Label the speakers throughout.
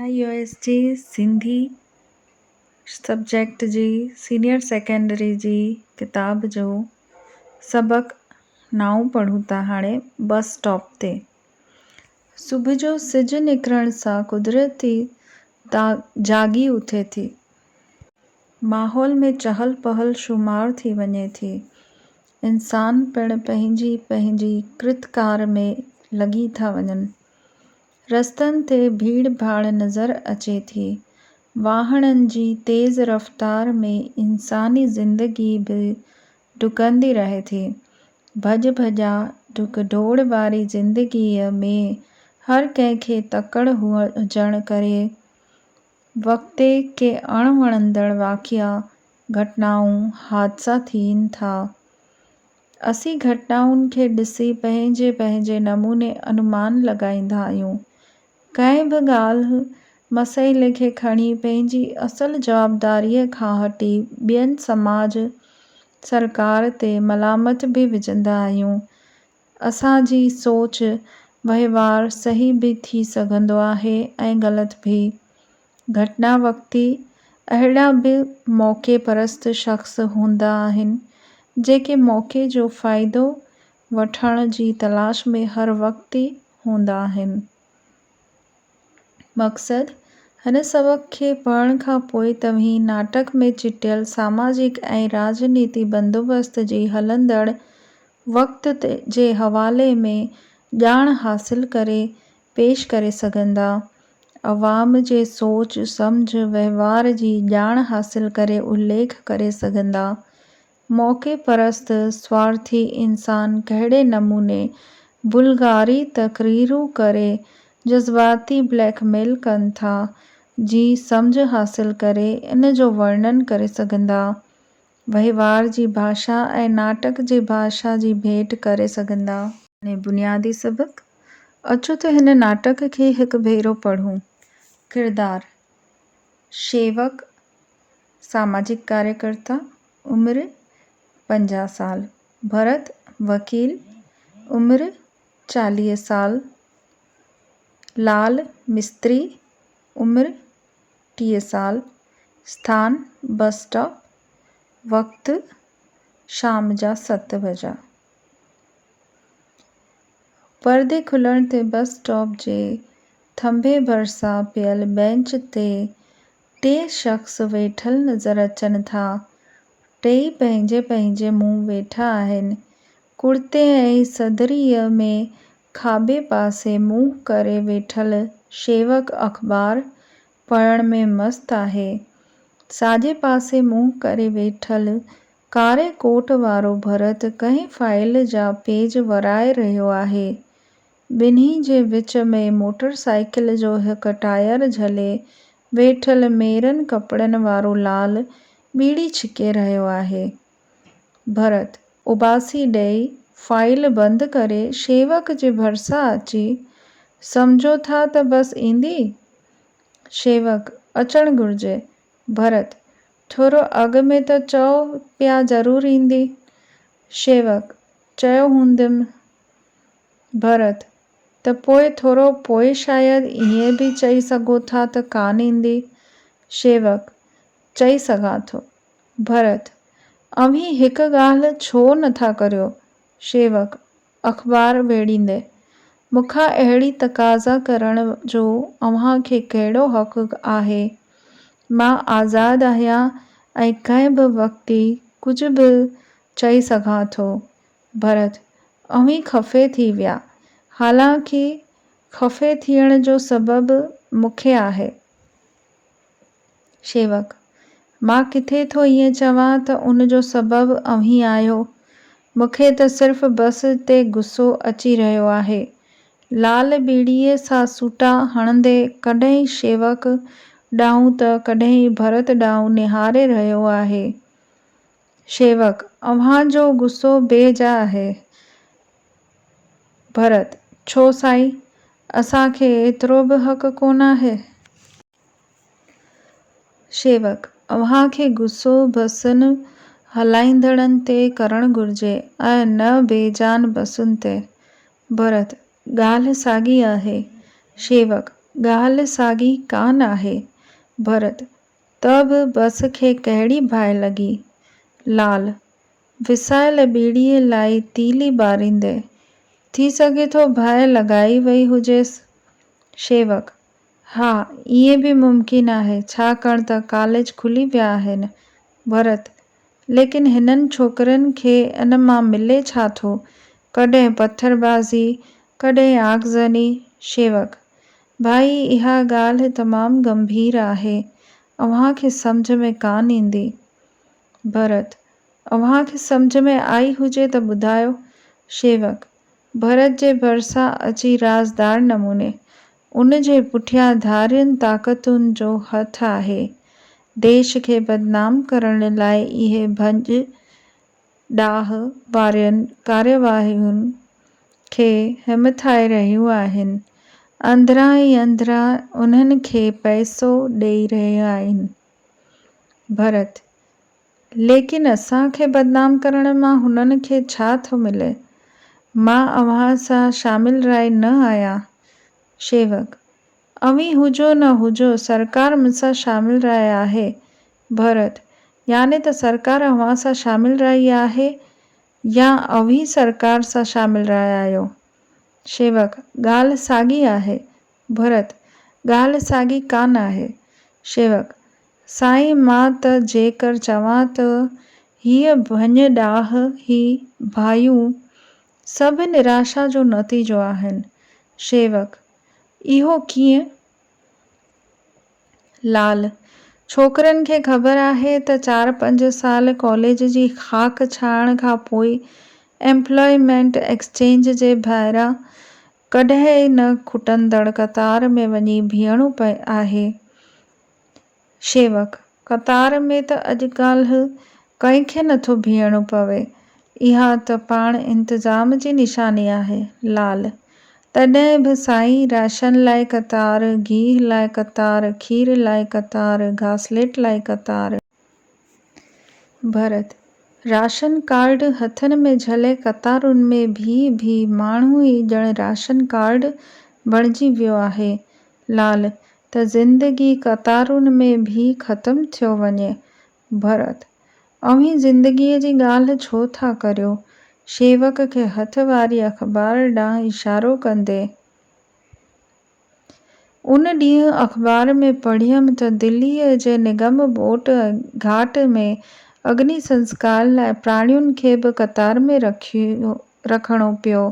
Speaker 1: N يو ايس جي سنڌي سبجيڪٽ جي سينيئر سيڪنڊري جي ڪتاب جو سبق نائون پڙهون ٿا هاڻي بس اسٽاپ تي. صبح جو سج نڪرڻ سان قدرتي جاڳي اٿي ٿي. ماحول ۾ چهل پهل شومار ٿي وڃي ٿي. انسان پڻ پنهنجي پنهنجي ڪرت ڪار ۾ لڳي ٿا وڃن. رستن تي ڀيڙ ڀاڙ نظر اچي ٿي. واهڻن جي تيز رفتار ۾ انساني زندگي به ڊڪندي رهي ٿي. ڀڄ ڀڄاء، ڊڪ ڊوڙ واري زندگيء ۾ هر ڪنهن کي تڪڙ هجڻ ڪري وقتي ڪي اڻ وڻندڙ واقعا، گهٽنائون، حادثا ٿين ٿا. اسين گهٽائن کي ڏسي پنهنجي پنهنجي نموني انومان لڳائيندا آهيون. ڪنهن به ڳالهه، مسئلي کي کڻي پنهنجي اصل جوابداريء کان هٽي ٻين سماج، سرڪار تي ملامت به وجهندا آهيون. اسان جي سوچ، وهنوار صحيح به ٿي سگهندو آهي ۽ غلط به. گهٽنا وقتي اهڙا به موقعي پرست شخص هوندا آهن، جيڪي موقعي جو فائدو وٺڻ جي تلاش ۾ هر وقت هوندا آهن. مقصد، هن سبق کي پڙهڻ کان پوء توهين ناٽڪ ۾ چٽيل ساماجڪ ۽ راڄنيتي بندوبست جي هلندڙ وقت جي حوالي ۾ ڄاڻ حاصل ڪري پيش ڪري سگهندا. عوام جي سوچ، سمجهه، وهنوار جي ڄاڻ حاصل ڪري اليک ڪري سگهندا. موقعي پرست، سوارٿي انسان ڪهڙي نموني بلغاري تقريرون ڪري جذباتي بليڪ ميل ڪن ٿا، جي سمجهه حاصل ڪري ان جو ورڻن ڪري سگهندا. وهنوار جي ڀاشا ۽ ناٽڪ جي ڀاشا جي ڀيٽ ڪري سگهندا. ۾ بنيادي سبق، اچو ته هن ناٽڪ کي هڪ ڀيرو پڙهون. ڪردار، شيوڪ، ساماجڪ ڪاريڪرتا، عمر، پنجاهه سال، ڀرت، وڪيل، عمر، چاليهه سال، لال، مستري، عمر، ٽيهه سال، اسٿان، بس اسٽاپ، وقت، شام جا ست بجا. پردي کلڻ تي بس اسٽاپ جي ٿنڀي ڀرسان پيل بئنچ تي ٽي شخص ويٺل نظر اچن ٿا. ٽيئي پنهنجي پنهنجي منهن ويٺا آهن. ڪڙتي ۽ صدريء ۾ کاٻي پاسي منهن ڪري ويٺل شيوڪ اخبار پڙهڻ ۾ مست آهي. ساڄي پاسي منهن ڪري ويٺل ڪاري ڪوٽ وارو ڀرت ڪنهن فائيل جا پيج ورائي رهيو آهي. ٻنهي جي وچ ۾ موٽر سائيڪل جو هڪ ٽائر جهلي ويٺل ميرن ڪپڙن وارو لال ٻيڙي ڇڪي رهيو آهي. ڀرت، اباسي ڏئي، فائيل بند ڪري شيوڪ جي ڀرسان اچي، سمجهو ٿا ته بس ايندي؟ شيوڪ، اچڻ گهرجي. ڀرت، ٿورو اڳ ۾ ته چئو پيا ضرور ايندي؟ شيوڪ، چيو هونديم. ڀرت، ته پوء ٿورو پوء شايد ائين به چئي سگهو ٿا ته ڪانه ايندي؟ شيوڪ، چئي سگهان ٿو. ڀرت، اوهين هڪ ڳالهه ڇو نه ٿا ڪريو؟ شيوڪ، اخبار ويڙهيندي، مون کان اهڙي تقاضا ڪرڻ جو اوهان کي ڪهڙو حق آهي؟ مان آزاد آهيان ۽ ڪنهن به وقت ئي ڪجهه به چئي سگهان ٿو. ڀرت، اوهين خفي ٿي ويا. حالانڪ خفي ٿيڻ جو سبب مون کي آهي. شيوڪ، مان ڪٿي ٿو ائين چوان ته ان جو سبب اوهين آهيو. مون کي ته صرف بس تي غصو اچي رهيو آهي. لعل ٻيڙيء سان سوٽا هڻندي ڪڏهن ئي شيوڪ ڏانهن ته ڪڏهن ئي ڀرت ڏانهن نهاري رهيو آهي. شيوڪ، اوهان جو غصو بي جا آهي. ڀرت، ڇو سائين! اسان کي ايترو به حق ڪونه آهي. شيوڪ، اوهان کي غصو بسن هلائيندڙن تي ڪرڻ گهرجي ۽ نه بي جان بسن تي. ڀرت، ڳالهه ساڳي آهي. شيوڪ، ڳالهه ساڳي ڪانه آهي. ڀرت، ته به بس کي ڪهڙي باهه لڳي. لعل، وسايل ٻيڙيء لاء تيلي ٻاريندي، ٿي سگهي ٿو باهه لڳائي وئي هجيس. شيوڪ، ها، ائين به ممڪن آهي، ڇاڪاڻ ته ڪاليج کلي ويا آهن. ڀرت، ليڪن هنن ڇوڪرين کي ان مان ملي ڇا ٿو؟ ڪڏهن پٿر بازي، ڪڏهن آگزني. شيوڪ، ڀائي اها ڳالهه تمام ڳنڀير آهي، اوهان کي سمجهه ۾ ڪانه ايندي. ڀرت، اوهان کي سمجهه ۾ آئي هجي ته ٻڌايو. شيوڪ، ڀرت جي ڀرسان اچي رازدار نموني، ان جي پٺيان ڌارين طاقتن جو هٿ آهي. ديش کي بدنام ڪرڻ لاء اهي ڀڃ ڊاهه وارين ڪاريواهين کي همٿائي رهيون آهن. اندران ئي اندران انهن کي پئسو ڏئي رهيون آهن. ڀرت، ليڪن اسان کي بدنام ڪرڻ مان هنن کي ڇا ٿو ملي؟ مان اوهان سان شامل راء نه آهيان. شيوڪ، اوهين هجو نه هجو، سرڪار مون سان شامل راء آهي. ڀرت، يعني ته سرڪار اوهان سان شامل راء آهي يا اوهين سرڪار سان شامل راء آهيو؟ شيوڪ، ڳالهه ساڳي آهي. ڀرت، ڳالهه ساڳي ڪا نه آهي. شيوڪ، سائين مان ته جيڪر چوان ته هيء ڀڃ ڏاهه، هي ڀايون، سڀ نراشا جو نتيجو آهن. شيوڪ، اهو ڪيئن؟ لال، ڇوڪرين کي خبر آهي ته چار پنج سال ڪاليج جي خاڪ ڇهائڻ کان پوء ايمپلائمينٽ ايڪسچينج جي ڀائران ڪڏهن ئي نه کٽندڙ قطار ۾ وڃي بيهڻو پئي آهي. شيوڪ، قطار ۾ ته اڄڪالهه ڪنهن کي نٿو بيهڻو پوي، اها ته پاڻ انتظام جي نشاني آهي. لعل، تڏهن به سائين راشن لاء قطار، گيهه لاء قطار، کير لاء قطار، گاسليٽ لاء قطار. ڀرت، راشن ڪارڊ هٿن ۾ جهلي قطارن ۾ بيهي بيهي ماڻهو ئي ڄڻ راشن ڪارڊ بڻجي ويو آهي. لال، ته زندگي قطارن ۾ بيهي ختم ٿيو وڃي. ڀرت، اوهين زندگيء جي ڳالهه ڇو ٿا ڪريو؟ شيوڪ کي هٿ واري اخبار ڏانهن اشارو ڪندي. ان ڏينهن اخبار ۾ پڙهيم ته دليء جي نگم بوٽ گهاٽ ۾ اگني سنسڪار لاء پراڻين کي به قطار ۾ رکيو رکڻو پيو.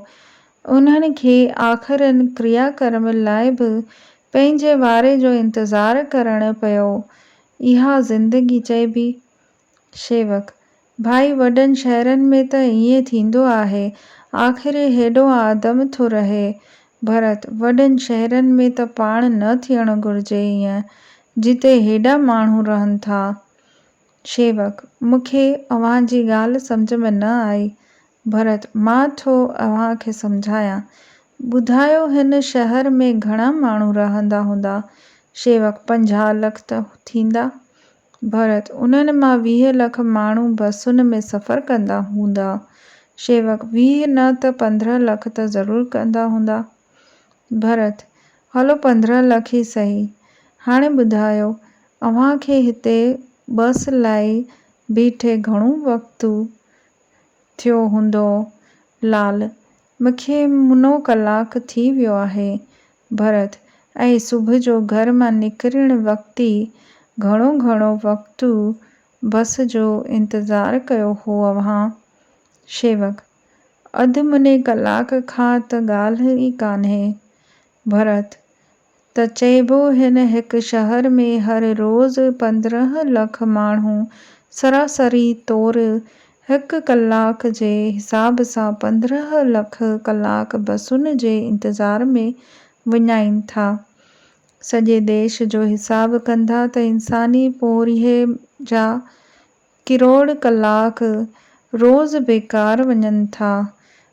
Speaker 1: انهن کي آخرين ڪريا ڪرم لاء به پنهنجي واري جو انتظار ڪرڻ پيو. اها زندگي چئبي؟ شيوڪ، ڀائي وڏن شهرن ۾ ته ائين ٿيندو آهي، آخر هي هيڏو آدم ٿو رهي. ڀرت، وڏن شهرن ۾ ته پاڻ نه ٿيڻ گهرجي ائين، جتي هيڏا ماڻهو رهن ٿا. شيوڪ، مون کي اوهان جي ڳالهه سمجهه ۾ نه آئي. ڀرت، مان ٿو اوهان کي سمجهايان. ٻڌايو هن شهر ۾ گهڻا ماڻهو رهندا هوندا؟ شيوڪ، پنجاهه لک ته ٿيندا. ڀرت، انهن مان ويهه لک ماڻهو بسن ۾ سفر ڪندا هوندا. شيوڪ، ويهه نه ته پندرهن لک ته ضرور ڪندا هوندا. ڀرت، هلو پندرهن لک ئي سهي. هاڻي ٻڌايو، اوهان کي هتي بس لاء بيٺي گهڻو وقت ٿيو هوندو؟ لال، مکي منو ڪلاڪ ٿي ويو آهي. ڀرت، اي صبح جو گهر مان نڪرڻ وقت ئي گهڻو گهڻو وقت بس جو انتظار ڪيو هو اوهان؟ شيوڪ، اڌ مني ڪلاڪ کان ته ڳالهه ئي ڪانهي. ڀرت، ته چئبو هن هڪ شهر ۾ هر روز پندرهن لک ماڻهو سراسري طور هڪ ڪلاڪ جي حساب سان پندرهن لک ڪلاڪ بسن جي انتظار ۾ وڃائين ٿا. سڄي ديش جو حساب ڪندا ته انساني پورهيي جا ڪروڙ ڪلاڪ روز بيڪار وڃن ٿا.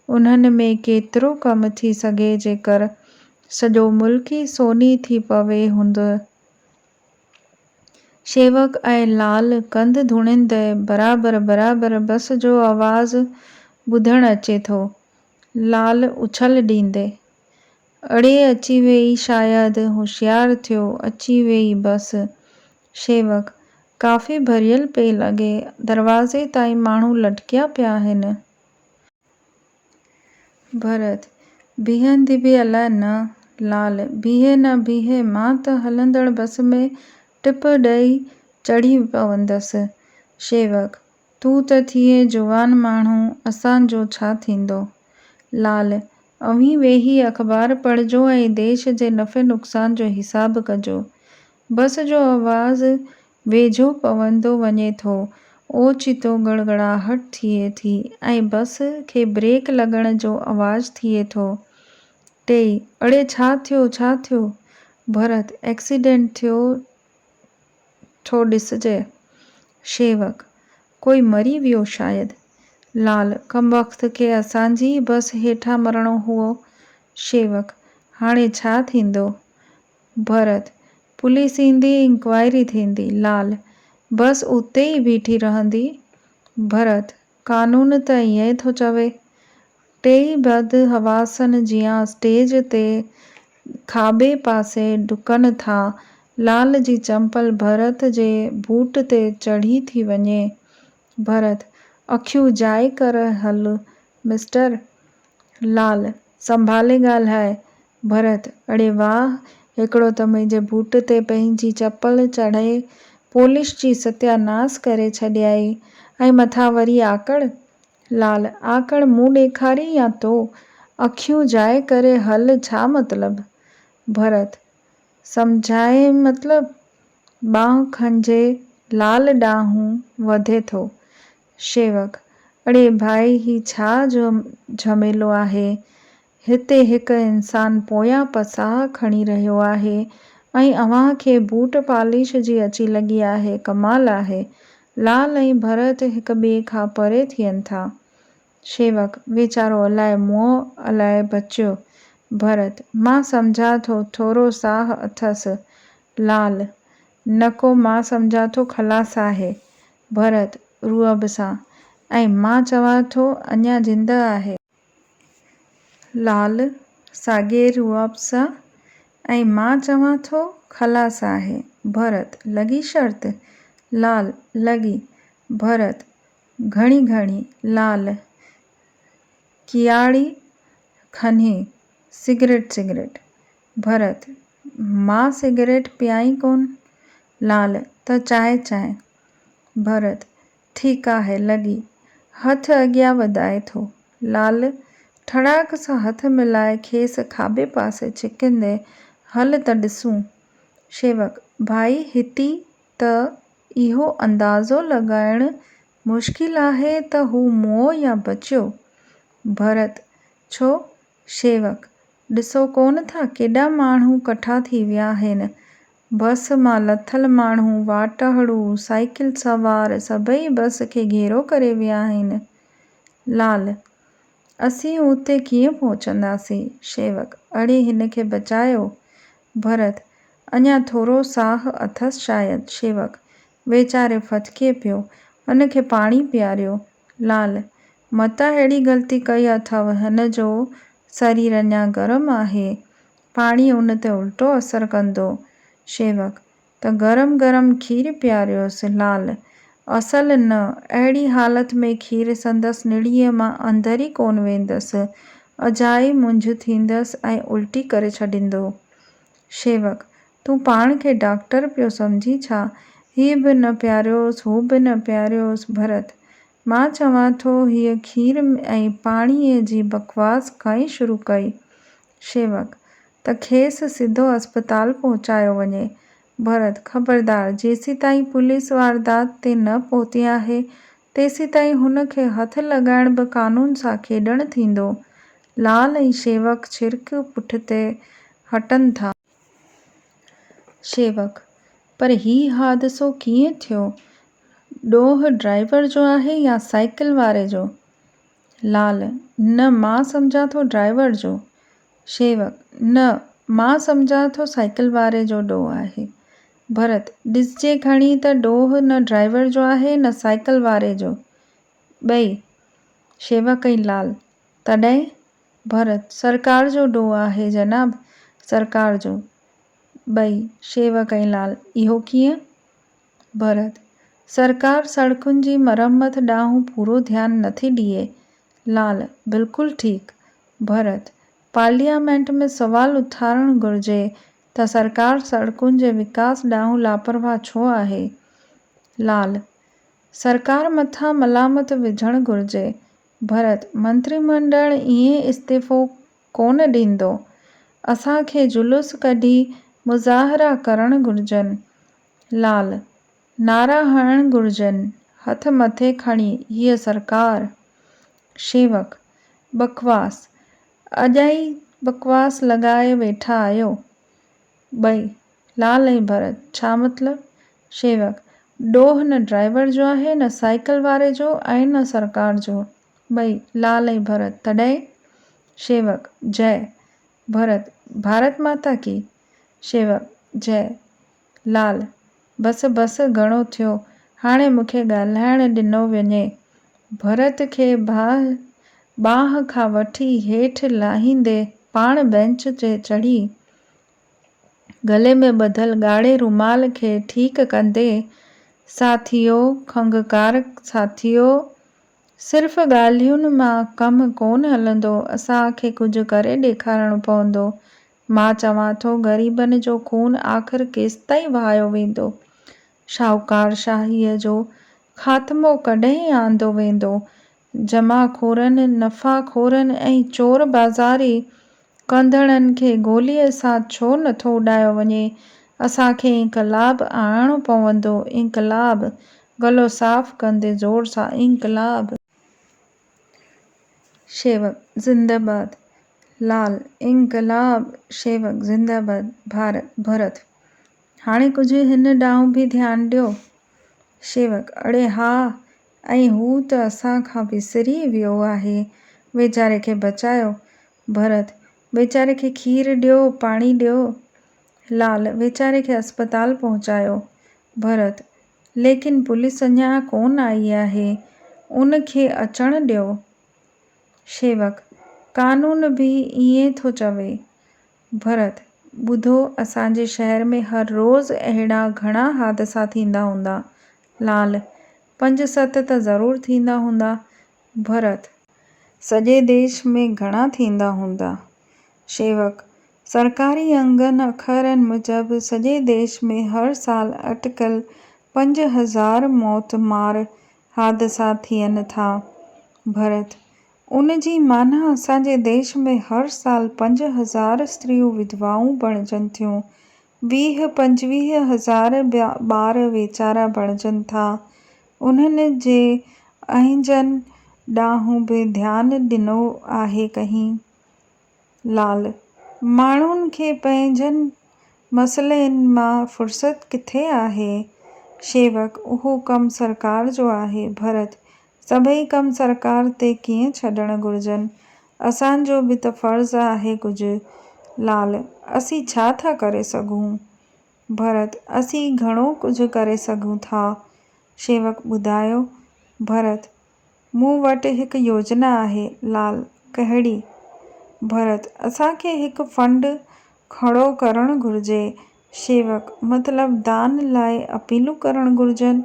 Speaker 1: انهن ۾ ڪيترو ڪم ٿي سگهي جيڪر سڄو ملڪ ئي سوني ٿي پوي هوند شيوڪ ۽ لعل ڪنڌ ڌوڻيندي برابر برابر بس جو آواز ٻڌڻ اچي ٿو. لعل اڇل ڏيندي. اڙي اچي ويئي شايد هوشيار ٿيو اچي ويئي بس. شيوڪ، ڪافي ڀريل پئي لڳي، دروازي تائين ماڻهو لٽڪيا پيا آهن. ڀرت، بيهندي به الاء نه. لعل، بيهي نه بيهي، مان ته هلندڙ بس ۾ ٽپ ڏئي چڙهي پوندس. شيوڪ، تون ته ٿئين جوان ماڻهو، اسان جو ڇا ٿيندو؟ لعل، اوهين ويهي اخبار پڙهجو ۽ ديش جي نفع نقصان جو حساب ڪجو. بس جو آواز ويجهو پوندو وڃي ٿو، اوچتو گڙگڙاهٽ ٿئي ٿي ۽ بس کي بريڪ لڳڻ جو آواز ٿئي ٿو. ٽيئي، اڙي ڇا ٿيو، ڇا ٿيو؟ ڀرت، ايڪسيڊنٽ ٿيو ٿو ڏسجئه. شيوڪ، ڪوئي مري ويو شايد. لال، ڪمبخت کي اسان جي ئي بس هيٺان مرڻو هئو. شيوڪ، هاڻي ڇا ٿيندو؟ ڀرت، پوليس ايندي انڪوائري ٿيندي. لال، بس اتي ئي بيٺي رهندي. ڀرت، قانون ته ائين ٿو چوي. ٽيئي بد حواسن جيان اسٽيج تي کاٻي پاسي ڊڪن ٿا. لال جي چمپل ڀرت جي بوٽ تي چڙهي ٿي وڃي. ڀرت، اکيون جاء ڪر هل مسٽر. لال، سنڀالي ڳالهاء. ڀرت، اڙي واهه، هڪڙو ته منهنجي بوٽ تي پنهنجي چپل چڙهي پولش جي ستيا ناس ڪري ڇڏيائي ۽ مٿان وري آڪڙ؟ لال، آڪڙ مون ڏيکاري يا تو؟ اکيون جائي ڪري هل ڇا مطلب؟ ڀرت، سمجهايم مطلب؟ ٻانهن کنجهي لال ڏانهن وڌي ٿو، شيوڪ، اڙي ڀائي هي ڇا جو جهميلو آهي، هتي هڪ انسان پويان پساهه کڻي رهيو آهي ۽ اوهان کي بوٽ پاليش جي اچي لڳي آهي ڪمال آهي، لال ۽ ڀرت هڪ ٻئي کان پري ٿين ٿا. شيوڪ، ويچارو الاء مئو الاء بچيو. ڀرت، مان سمجهان ٿو ٿورو ساهه اٿس. لال، نڪو مان سمجهان ٿو خلاص آهي. ڀرت، رعب سان، ۽ مان چوان ٿو اڃا زنده آهي. لعل، ساڳئي رعب سان، ۽ مان چوان ٿو خلاص آهي. ڀرت، لڳي شرط؟ لعل، لڳي. ڀرت، گهڻي گهڻي. لعل، ڪياڙي کنهي، سگريٽ سگريٽ. ڀرت، مان سگريٽ پيان ئي ڪونه. لعل، ته چانهه چانهه. ڀرت، ٺيڪ آهي لڳي. هٿ اڳيان وڌائي ٿو. لعل، ٺڙاڪ سان هٿ ملائي کيس کاٻي پاسي ڇڪيندي، هل ته ڏسون. شيوڪ، ڀائي هتي ته اهو اندازو لڳائڻ مشڪل آهي ته هو مئو يا بچيو. ڀرت، ڇو؟ شيوڪ، ڏسو ڪونه ٿا ڪيڏا ماڻهو ڪٺا ٿي ويا آهن. بس مان لٿل ماڻهو، واٽهڙو، سائيڪل سوار سڀئي بس کي گهيرو ڪري ويا آهن. لعل، اسين اتي ڪيئن پهچنداسين؟ شيوڪ، اڙي هن کي بچايو. ڀرت، اڃا ٿورو ساهه اٿس شايد. شيوڪ، ويچاري ڦٿڪي پيو. هن کي پاڻي پياريو. لعل، متان اهڙي غلطي ڪئي اٿئو، هن جو سرير اڃا گرم آهي، پاڻي ان تي الٽو اثر ڪندو. شيوڪ، ته گرم گرم کير پياريوس. لعل، اصل نه، اهڙي حالت ۾ کير سندس نڙيء مان اندر ئي ڪونه ويندس، اجائي منجهه ٿيندس ۽ الٽي ڪري ڇڏيندو. شيوڪ، تون پاڻ کي ڊاڪٽر پيو سمجهين ڇا؟ هيء به نه پياريوس، هو به نه پياريوس، ڀرت! مان چوان ٿو، هيء کير ۽ پاڻيء جي بڪواس کائي شروع ڪئي. شيوڪ، ته کيس سڌو اسپتال پهچايو وڃي. ڀرت، خبردار! جيسيتائين پوليس واردات تي نه پهتي آهي، تيسيتائين هن کي هٿ لڳائڻ به قانون سان کيڏڻ ٿيندو. لال ۽ شيوڪ ڇرڪ پٺتي هٽن ٿا. شيوڪ، پر هي حادثو ڪيئن ٿيو؟ ڏوهه ڊرائيور جو آهي يا سائيڪل واري جو؟ لعل، نه مان سمجهان ٿو ڊرائيور جو. شيوڪ، نه مان سمجهان ٿو سائيڪل واري جو ڏوهه آهي. ڀرت، ڏسجي کڻي ته ڏوهه نه ڊرائيور جو آهي نه سائيڪل واري جو. ٻئي، شيوڪ ۽ لعل، تڏهن؟ ڀرت، سرڪار جو ڏوهه آهي جناب! سرڪار جو. ٻئي، شيوڪ ۽ لعل، اهو ڪيئن؟ ڀرت، سرڪار سڙڪن جي مرمت ڏانهن پورو ڌيان نٿي ڏئي. لعل، بلڪل ٺيڪ. ڀرت، پارليامينٽ ۾ سوال اٿارڻ گهرجي ته سرڪار سڙڪن جي وڪاس ڏانهن لاپرواهه ڇو آهي؟ لعل، سرڪار مٿان ملامت وجهڻ گهرجي. ڀرت، منتريمنڊل ائين استعيفو ڪونه ڏيندو. اسان کي جلوس ڪڍي مظاهرا ڪرڻ گهرجن. لعل، نعرا هڻڻ گهرجن. هٿ مٿي کڻي هيء سرڪار. شيوڪ، بڪواس، اڄائي بڪواس لڳائي ويٺا آهيو. ٻئي، لال ۽ ڀرت، ڇا مطلب؟ شيوڪ، ڏوهه نه ڊرائيور جو آهي، نه سائيڪل واري جو ۽ نه سرڪار جو. ٻئي، لال ۽ ڀرت، تڏهن؟ شيوڪ، جئه! ڀرت، ڀارت ماتا ڪي! شيوڪ، جئه! لال، بس بس گهڻو ٿيو، هاڻي مون کي ڳالهائڻ ڏنو وڃي. ڀرت کي باهه ٻانهن کان وٺي هيٺ لاهيندي پاڻ بئنچ تي چڙهي، گلي ۾ ٻڌل ڳاڙهي رومال کي ٺيڪ ڪندي، ساٿيو، کنگهڪار ساٿيو، صرف ڳالهين مان ڪم ڪونه هلندو، اسان کي ڪجهه ڪري ڏيکارڻو پوندو، مان چوان ٿو غريبن جو خون آخر ڪيستائين وهايو ويندو؟ شاهوڪارشاهيء جو خاتمو ڪڏهن آندو ويندو؟ جمع خورن، نفع خورن ۽ چور بازاري ڪندڙن کي گوليء سان ڇو نٿو اڏايو وڃي؟ اسان کي انقلاب آڻڻو پوندو، انقلاب! گلو صاف ڪندي زور سان، انقلاب! شيوڪ زنده باد لال انقلاب شيوڪ زنده باد ڀارت ڀرت هاڻي ڪجهه هن ڏانهن به ڌيان ڏيو شيوڪ اڙي ها ۽ هو ته اسان کان وسري ئي ويو آهي ويچاري کي بچايو ڀرت ويچاري کي کير ڏيو پاڻي ڏيو لال ويچاري کي اسپتال پهچايو ڀرت ليڪن پوليس اڃا ڪونه آئي آهي، ان کي اچڻ ڏيو. شيوڪ، قانون به ائين ٿو چوي. ڀرت، ٻڌو اسان جي شهر ۾ هر روز اهڙا گهڻا حادثا ٿيندا هوندا. لعل، پنج ست ته ضرور ٿيندا هوندا، ڀرت، سڄي ديش ۾ گهڻا ٿيندا هوندا؟ شيوڪ، سرڪاري انگن اکرن موجب سڄي ديش ۾ هر سال اٽڪل پنج هزار موت مار حادثا ٿين ٿا. ڀرت، ان جي معنيٰ اسان جي ديش ۾ هر سال پنج هزار استريون وڌوائون بڻجن ٿيون. ويهه پنجويهه هزار ٻار ويچارا بڻجن ٿا، انهن جي اهنجن ڏانهن به ڌيان ڏنو آهي ڪنهن؟ لعل، ماڻهن کي پنهنجن مسئلين مان فرصت ڪٿي آهي؟ شيوڪ، اهو ڪم سرڪار جو آهي. ڀرت، سڀئي ڪم سرڪار تي ڪيئن ڇڏڻ گهرجن؟ اسان جو به ته فرض آهي ڪجهه. لعل، اسين ڇا ٿا ڪري سگهون؟ ڀرت، اسين گهڻو ڪجهه ڪري سگهون ٿا. شيوڪ، ٻڌايو. ڀرت، مون وٽ هڪ يوجنا آهي. لعل، ڪهڙي؟ ڀرت، اسان کي هڪ فنڊ کڙو ڪرڻ گهرجي شيوڪ، مطلب دان لاء اپيلون ڪرڻ گهرجن؟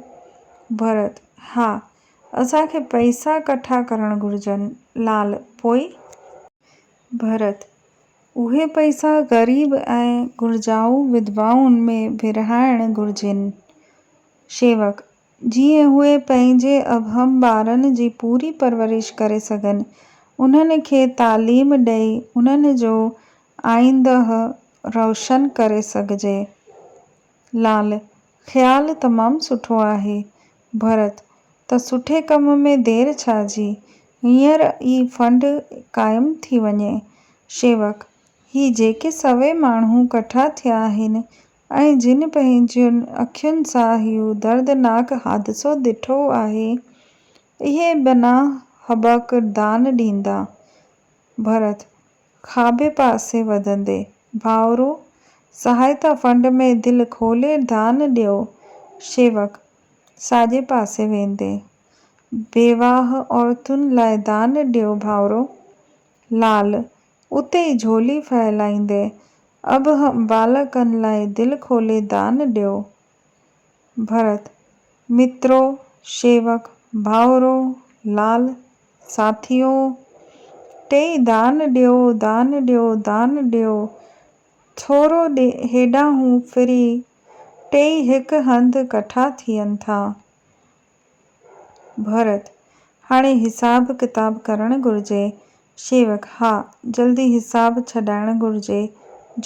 Speaker 1: ڀرت، ها، اسان کي پئسا ڪٺا ڪرڻ گهرجن. لعل، پوء؟ ڀرت، اهي پئسا غريب ۽ گهرجائو وڌوائن ۾ ورهائڻ گهرجن. شيوڪ، جيئن اهي پنهنجي ابهم ٻارن جي پوري پرورش ڪري سگهن، انهن کي تعليم ڏئي انهن جو آئينده روشن ڪري سگهجي. لعل، خيال تمام سٺو آهي. ڀرت، ته سٺي ڪم ۾ دير ڇا جي، هينئر ئي فنڊ قائم ٿي وڃي. شيوڪ، هي جيڪي سوين ماڻهو ڪٺا ٿيا آهن، ۽ جن پنهنجين اکين سان اهو دردناڪ حادثو ڏٺو آهي، اهي بنا هٻڪ دان ڏيندا. ڀرت، کاٻي پاسي وڌندي، ڀائرو! سهائتا فنڊ ۾ دل کولي دان ڏيو. شيوڪ، ساڄي پاسي ويندي، بيواهه عورتن لاء دان ڏيو ڀائرو. لال، اتي ئي جهولي ڦهلائيندي اڀ هم ٻالڪن لاء دل کولي دان ڏيو. ڀرت، مترو، شيوڪ، ڀائورو، لال، ساٿيو! ٽيئي دان ڏيو، دان ڏيو، دان ڏيو! ٿورو هيڏانهون ڦري ٽيئي هڪ هنڌ ڪٺا ٿين ٿا. ڀرت، هاڻي حساب ڪتاب ڪرڻ گهرجي. شيوڪ، ها، جلدي حساب ڇڏائڻ گهرجي.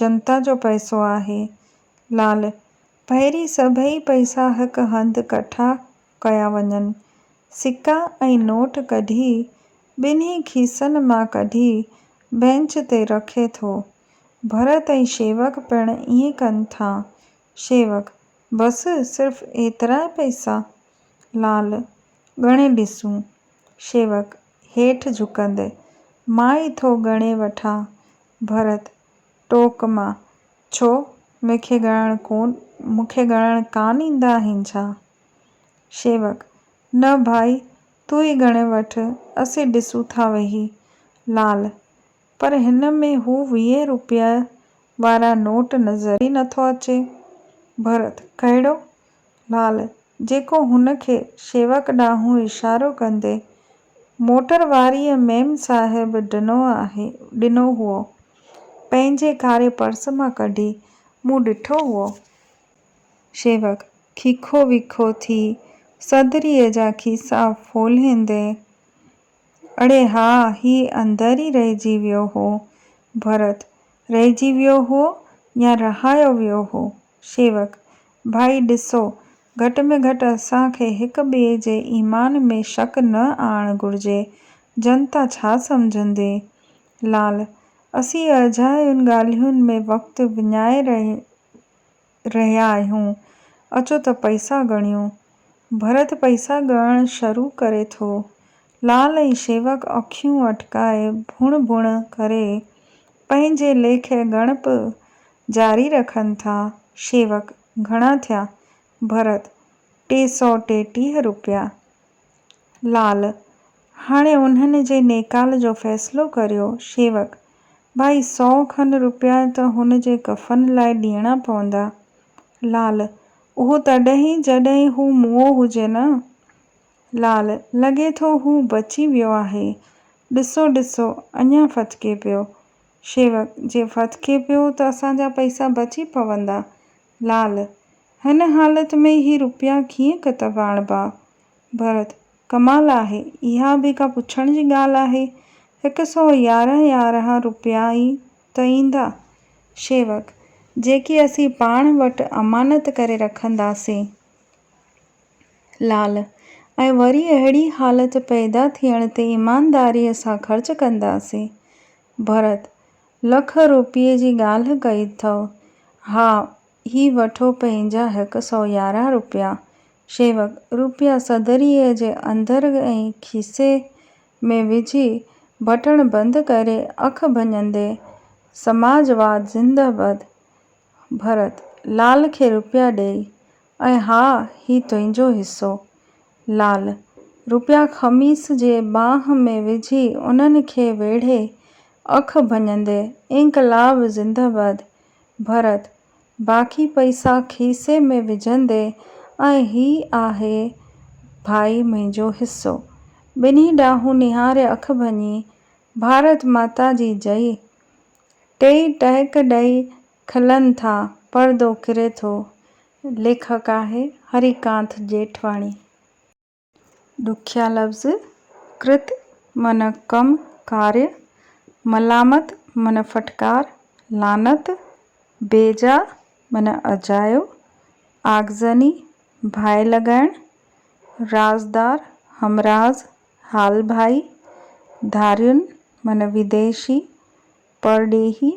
Speaker 1: جنتا جو پئسو آهي. لعل، پهرين سڀئي پئسا هڪ هنڌ ڪٺا ڪيا وڃن. سڪا ۽ نوٽ ڪڍي، ٻنهي کيسن مان ڪڍي، بئنچ تي رکي ٿو. ڀرت ۽ شيوڪ پڻ ائين ڪن ٿا. شيوڪ، بس صرف ايترا پئسا؟ لعل، ڳڻي ڏسون. شيوڪ، هيٺ جهڪندي، مان ئي ٿو ڳڻي وٺان. ڀرت، ٽوڪ مان، ڇو، مون کي ڳڻڻ ڪون مون کي ڳڻڻ ڪانه ايندا آهن ڇا؟ شيوڪ، نه ڀائي، تون ئي ڳڻي وٺ، اسين ڏسون ٿا ويهي. لعل، پر هن ۾ هو ويهين روپيه وارا نوٽ نظر ئي نٿو اچي. ڀرت، ڪهڙو؟ لال، جيڪو هن کي شيوڪ ڏانهن اشارو ڪندي موٽر واريء ميم صاحب ڏنو آهي، ڏنو هئو. پنهنجي ڪاري پرس مان ڪڍي مون ڏٺو هئو. شيوڪ، کيکو ويکو ٿي صدريء جا کيسا ڦولهيندي، اڙي ها، هي اندر ئي رهجي ويو هو. ڀرت، رهجي ويو هو يا رهايو ويو هو؟ شيوڪ، ڀائي ڏسو، گهٽ ۾ گهٽ اسان کي هڪ ٻئي جي ايمان ۾ شڪ نه آڻڻ گهرجي. جنتا ڇا سمجهندي؟ لعل، اسين اجايون ڳالهين ۾ وقت وڃائي رهيا آهيون. رهيا آهيون، اچو ته پئسا ڳڻيون. ڀرت پئسا ڳڻڻ شروع ڪري ٿو. لال ۽ شيوڪ اکيون اٽڪائي ڀڻ ڀڻ ڪري پنهنجي ليکي ڳڻپ جاري رکن ٿا. شيوڪ، گهڻا ٿيا؟ ڀرت، ٽي سؤ ٽيٽيهه روپيا. لعل، هاڻي انهن جي نيڪال جو فيصلو ڪريو. شيوڪ، ڀائي سؤ کن روپيا ته هن جي ڪفن لاء ڏيڻا پوندا. لعل، اهو تڏهن ئي جڏهن هو موئو هجي نه. لعل، لڳي ٿو هو بچي ويو آهي. ڏسو ڏسو اڃا ڦٿڪي پيو. شيوڪ، جي ڦٿڪي پيو ته اسان جا پئسا بچي پوندا. لعل، هن حالت ۾ هي روپيا ڪيئن ڪتب آڻبا؟ ڀرت، ڪمال آهي، اها به ڪا پڇڻ جي ڳالهه آهي، هڪ سؤ يارهن يارهن روپيا ئي ته ايندا. شيوڪ، جيڪي اسين پاڻ وٽ امانت ڪري رکنداسين. لعل، ۽ وري اهڙي حالت پيدا ٿيڻ تي ايمانداريء سان خرچ ڪنداسين. ڀرت، لک روپيه جي ڳالهه ڪئي ٿئو. ها، هي وٺو پنهنجا هڪ سؤ يارهن روپيا. شيوڪ روپيا صدريء جي اندر ۽ کيسي ۾ وجهي، بٽڻ بند ڪري اک ڀڃندي، سماجواد زندهباد! ڀرت لال کي روپيا ڏيئي، ۽ ها هي تنهنجو حصو. لعل، روپيا خميس جي ٻانهن ۾ وجهي انهن کي ويڙهي اک ڀڃندي، انقلاب زنده باد. ڀرت، باقي پئسا کيسي ۾ وجهندي، ۽ هي آهي ڀائي منهنجو حصو. ٻنهي ڏانهن نهاري اک ڀڃي، ڀارت ماتا جي جئي. ٽيئي ٽهڪ ڏئي کلن ٿا، پردو ڪري ٿو. ليکڪ آهي هري ڪانت جيٺواڻي. ڏکيا لفظ، ڪرت من ڪم، ڪاري، ملامت من ڦٽڪار، لعنت، بيجا من اجايو، آگزني، ڀائي لڳائڻ، رازدار، همراز، حال ڀائي، ڌارين من ويديشي، پرڏيهي،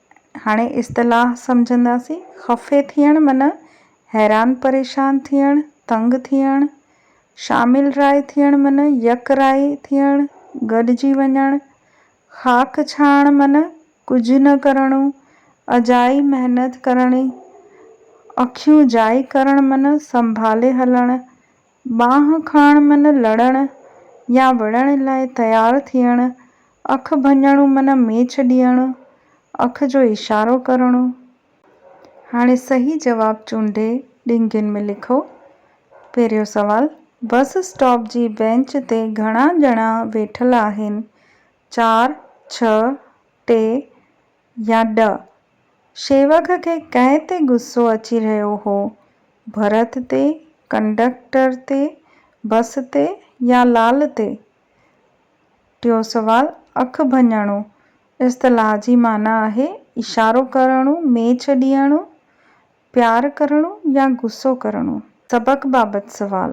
Speaker 1: هاڻي اصطلاح سمجهنداسين، خفي ٿيڻ معنيٰ حيران پريشان ٿيڻ، تنگ ٿيڻ، شامل راء ٿيڻ معنيٰ يڪ راء ٿيڻ، گڏجي وڃڻ، خاڪ ڇاڻڻ معنيٰ ڪجهه نه ڪرڻو، اجائي محنت ڪرڻي، اکيون جائي ڪرڻ معنيٰ سنڀالي هلڻ، ٻانهن کڻڻ من لڙڻ يا وڙهڻ لاء تيار ٿيڻ، اک ڀڃڻو من ميچ ڏيڻ، اک جو اشارو ڪرڻو. هاڻي صحيح جواب چونڊي ڏينگين ۾ لکو. پهريون سوال، بس اسٽاپ جي بينچ تي گهڻا ڄڻا ويٺل آهن؟ چار، ڇهه، ٽي، يا ڏھ؟ شيوڪ کي ڪنهن تي غصو اچي رهيو هو؟ ڀرت تي، ڪنڊڪٽر تي، بس تي يا لال تي؟ ٽيون سوال، اک ڀڃڻو اصطلاح جي معنيٰ آهي اشارو ڪرڻو، ميچ ڏيڻو. پيار ڪرڻو يا غصو ڪرڻو؟ سبق بابت سوال،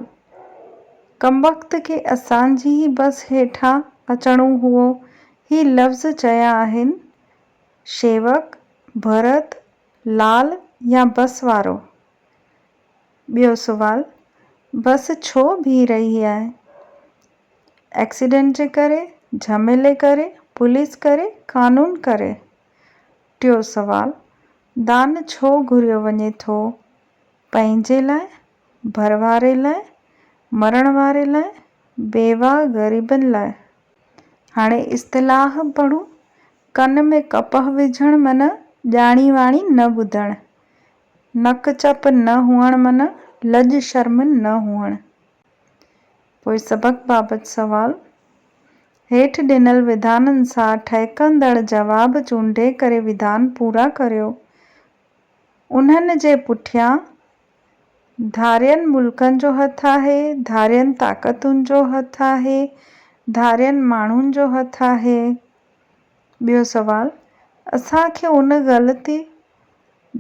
Speaker 1: ڪمبخت کي اسان جي ئي بس هيٺان اچڻو هئو. هي لفظ چيا آهن شيوڪ، ڀرت، لال يا بس وارو؟ ٻيو سوال، بس ڇو بيهي رهي آهي؟ ايڪسيڊنٽ جي ڪري، جهميلي ڪري، پوليس ڪري، قانون ڪري؟ ٽيون سوال، دان ڇو گهريو وڃي ٿو؟ پنهنجي لاء، ڀر واري لاء، مرڻ واري لاء، بيواهه غريبن لاء؟ هاڻي اصطلاح پڙهون، ڪن ۾ ڪپهه وجهڻ معنيٰ ڄاڻي واڻي نه ٻڌڻ، نڪ چپ نه هئڻ معنيٰ لڄ شرم نه هئڻ. پوء سبق بابت سوال. هيٺ ڏنل وڌانن سان ٺهڪندڙ جواب چونڊي ڪري وڌان پورا ڪريو. انهن جي پٺيان ڌارين ملڪن جو هٿ آهي، ڌارين طاقتن جو هٿ آهي، ڌارين ماڻهن جو هٿ آهي. ٻيو سوال. اسان کي ان غلطي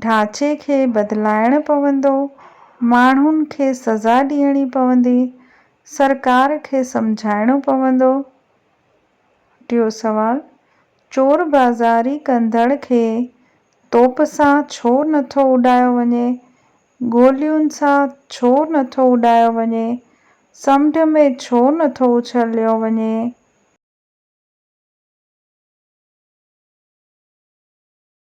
Speaker 1: ڍانچي کي بدلائڻ پوندو، ماڻهن کي سزا ڏيڻي پوندي، سرڪار کي سمجهائڻو پوندو. ٽيون سوال، چور بازاري ڪندڙ کي توپ سان ڇو نٿو اڏايو وڃي، گولين سان ڇو نٿو اڏايو وڃي، سمنڊ ۾ ڇو نٿو اڇليو وڃي؟